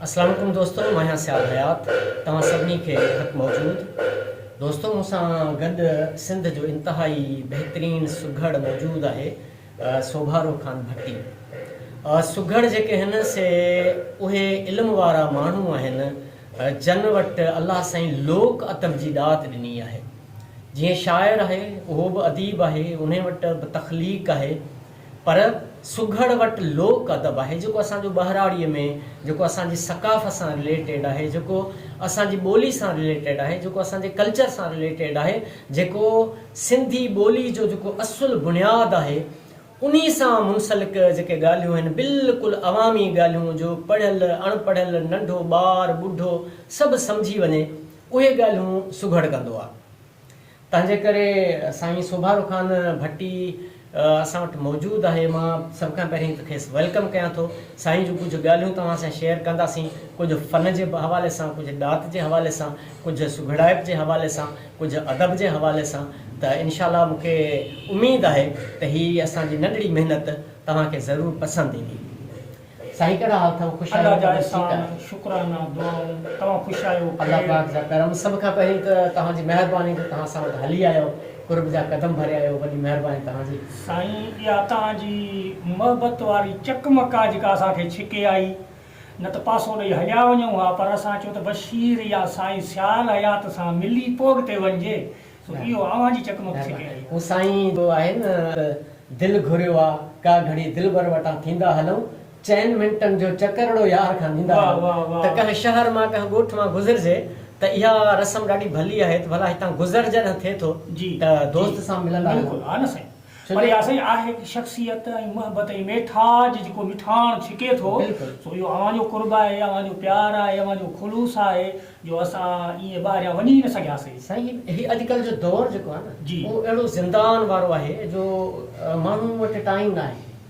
السلام عليڪم دوستو مان آهيان سيال حيات توهان سڀني کي خط موجود دوستو مون سان گڏ سنڌ جو انتهائي بهترين سگهڙ موجود آهي سوڀارو خان ڀٽي سگهڙ جيڪي هن سي اهي علم وارا ماڻهو آهن جن وٽ الله سائين لوڪ ادب جي ڏات ڏني آهي جيئن شاعر آهي اهو به اديب آهي انهي وٽ به تخليق آهي پر سگهڙ وٽ لوڪ ادب آهي جيڪو اسان جو ٻهراڙيء ۾ جيڪو اسان جي ثقافت سان رليٽيڊ آهي جيڪو اسان جي ٻولي سان رليٽيڊ آهي جيڪو اسان جي ڪلچر سان رليٽيڊ آهي جيڪو سنڌي ٻولي جو جيڪو اصل بنياد آهي انهي سان منسلڪ جيڪي ڳالهيون آهن بلڪل عوامي ڳالهيون جو پڙهيل اڻ پڙهيل ننڍو ٻار ٻڍو سڀ سمجهي وڃي اهي ڳالهيون سگهڙ ڪندو آ. تنهنجي ڪري سائين سوڀارو خان ڀٽي اسان وٽ موجود آهي. مان سڀ کان پهرين ته کيس ويلڪم ڪيان ٿو. سائين جون ڪجهه ڳالهيون توهان سان شيئر ڪنداسين. ڪجهه فن جي حوالي سان، ڪجهه ڏات جي حوالي سان، ڪجهه سگهڙائپ جي حوالي سان، ڪجهه ادب جي حوالي سان ته انشاء الله مون کي اميد آهي ته هي اسان جي ننڍڙي محنت توهان کي ضرور پسند ايندي. سائين ڪهڙا حال ٿئو خوش آهيو الله جا احسان شڪرانا دعائون توهان خوش آهيو خير. الله پاڪ جا ڪرم سڀ کان پهرين ته توهان جي مهرباني جو توهان اسان وٽ هلي آيو قرب جا قدم ڀريا آهيو وڏي مهرباني توهان جي. سائين اها توهان جي محبت واري چقمق آ جيڪا اسان کي ڇڪي آئي نه ته پاسو ڏئي هليا وڃون ها پر اسان چيو ته بشير يا سائين سيال حيات سان ملي پوء اڳتي وڃجي سو اهو اوهان جي چقمق ڇڪي آهي. هو سائين جو آهي نه ته دل گهريو آ، ڪا گهڙي دلبر وٽان ٿيندا هلئون، چئن منٽن جو چڪرڙو يار کان ڏيندا هلئون ته ڪنهن شهر مان ڪنهن ڳوٺ مان گذرجي ته اها رسم ڏاڍي ڀلي آهي ته ڀلا هتان گذر جڏهن ٿئي ٿو ته دوست سان ملندا هلئون. پر اها سائين آهي ته شخصيت ۽ محبت ۽ ميٺاج جيڪو مٺاڻ ڇڪي ٿو سو اهو اوهان جو قرب آهي اوهان جو پيار آهي اوهان جو خلوص آهي جو اسان ائين ٻاهريان وڃي ئي نه سگهياسين. سائين هي اڄڪلهه جو دور جيڪو آهي نه اهو اهڙو زندان وارو آهي جو ماڻهن وٽ ٽائيم ناهي.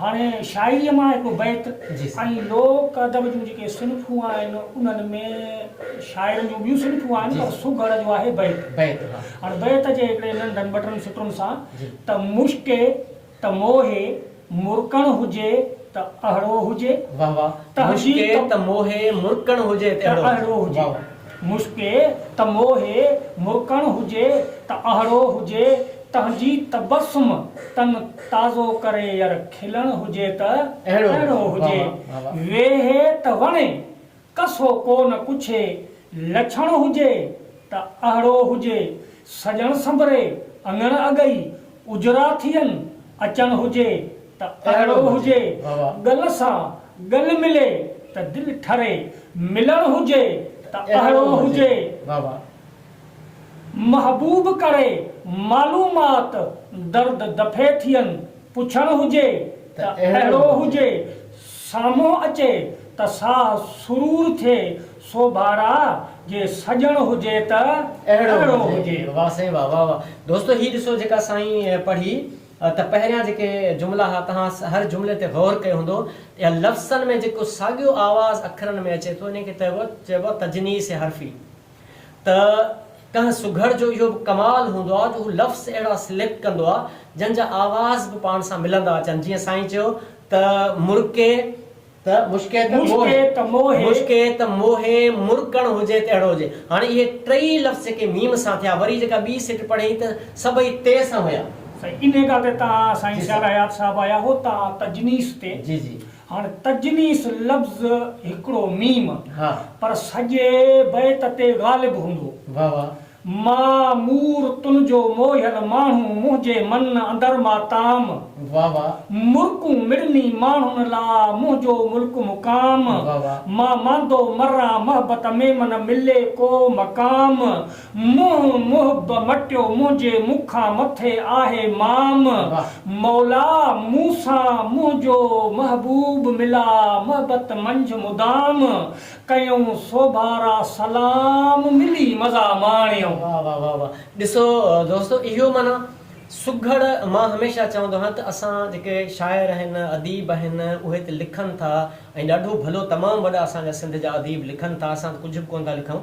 هاڻي شاعريء مان هڪ بيت ۽ لوڪ ادب جون جيڪي صنفون آهن انهن ۾ شاعرن جون ٻيون صنفون آهن پر سگهڙ جو آهي بيت. هاڻي بيت جي هڪڙي ننڍن ٻٽن سٽرن سان ته مشڪي ته موهي مرڪڻ هجي ته اهڙو هجي. واهه واهه. مشڪي ته موهي مرڪڻ هجي ته اهڙو هجي. مشڪي ته موهي مهڪڻ هجي ته اهڙو هجي تنهنجي تبسم تن تازو ڪري ير کلڻ هجي ته اهڙو هجي ويهي ته وڻي ڪسو ڪو نه ڪڇي لڇڻ هجي ته اهڙو هجي سڄڻ سنبري اڱڻ اڳئي اجراٿين اچڻ هجي ته اڙو هجي، ڳل سان ڳل ملي ته دل ٺري، ملڻ هجي ته اڙو هجي، محبوب ڪري معلومات درد دفعي ٿين، پڇڻ هجي ته اڙو هجي، سامهون اچي ته ساهه سرور ٿئي، سو ڀارا جي سڄڻ هجي ته اهڙو هجي. واھ سائين واھ واھ واھ دوستو هي ڏسو جيڪا سائين پڙهي ته پهريان جيڪي جملا ها تهان هر جملي تي غور ڪيو هوندو ته لفسن ۾ جيڪو ساڳيو آواز اکرن ۾ اچي ٿو انهي کي چئبو چئبو تجنيس حرفي ته ڪنهن سگهڙ جو اهو به ڪمال هوندو آ جو هو لفظ اهڙا سليڪٽ ڪندو آ جن جا آواز به پاڻ سان ملندا اچن جيئن سائين چيو ته مرڪي ته مشڪي ته موهي. مشڪي ته موهي. مشڪي ته موهي، مرڪڻ هجي ته اهڙو هجي. هاڻي اهي ٽئي لفظ جيڪي ميم سان ٿيا، وري جيڪا ٻي سٽ پڙهين ته سڀئي تي سان هيا. سائين انهي ڳالهه تي تان سائين سيال حيات صاحب آيا هو تان تجنيس تي. جي جي. هاڻ تجنيس لفظ هڪڙو ميم. ها. پر سڄي بيت تي غالب هوندو. واهه واهه. مان مور تنھنجو موھيل ماڻھو منھنجي من اندر ماتام. واھ واھ. مرڪون مڙني ماڻھن لا منھنجو ملڪ مقام. واھ واھ. مان ماندو مران محبت ۾ من ملي ڪو مقام. منھن محب مٽيو منھنجي مونکان مٿي آھي مام. واھ. مولا مون سان منھنجو محبوب ملا محبت منجھ مدام. ڪيون سوڀارا سلام ملي مزا ماڻيو. واه واه واه واه ڏسو دوستو اهو معنيٰ سگهڙ مان هميشه چوندو آهيان ته اسان جيڪي شاعر آهن اديب آهن اهي ته لکن ٿا ۽ ڏاڍو ڀلو تمام وڏا اسان جا سنڌ جا اديب لکن ٿا اسان ته ڪجهه به ڪونه ٿا لکون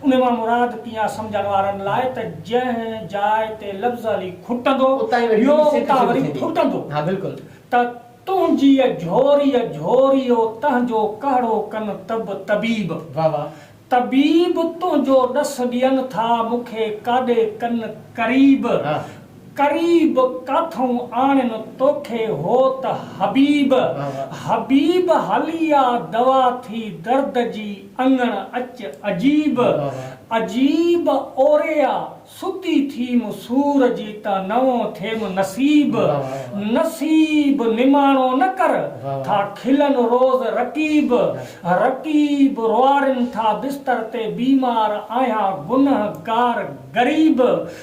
ان مان مراد پيئا سمجهڻ وارن لاء ته جنهن جاء تي لفظ علي کٽندو، ٻيو اتان وري ڦٽندو ته تنهنجيء جهوريء جهوريء و تنهنجو ڪهڙو ڪن طب طبيب، طبيب تنهنجو ڏس ڏين ٿا مون کي ڪاڏي ڪن قريب، قريب ڪاٿئون آڻين توکي هو ته حبيب حبيب هلي آ دوا ٿي درد جي اڱڻ اچ عجيب عجيب اوري آ ستي ٿيم سور جي ته نئون ٿيم نصيب نصيب نماڻو نه ڪر ٿا کلن روز رقيب رقيب روئارين ٿا بستر تي بيمار آهيان گنهگار غريب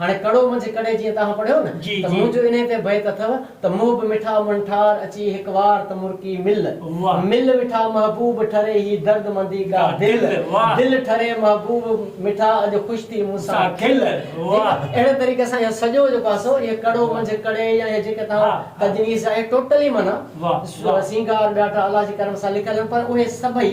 هاڻي ڪڙو منجهه ڪڙي جيئن توهان پڙهيو نه جي ته جي. منهنجو انهي تي بيت اٿو ته منهن به مٺا من ٺار اچي هڪ وار ته مرڪي مل واهه. مل مٺا محبوب ٺري هي درد مندي ڳا ڳا دل دل واهه. دل ٺري محبوب مٺا اڄ خوش ٿي مون سان سان کل کل واهه. ٺيڪ اهڙي طريقي سان اهو سڄو جيڪو آهي سو اهي ڪڙو واهه. منجهه ڪڙي يا اهي جيڪي توهان ها ها. تجنيس آهي ٽوٽلي معنيٰ واهه واهه. سينگار ٻيا ٽا الله جي ڪرم سان لکيل آهن پر اهي سڀئي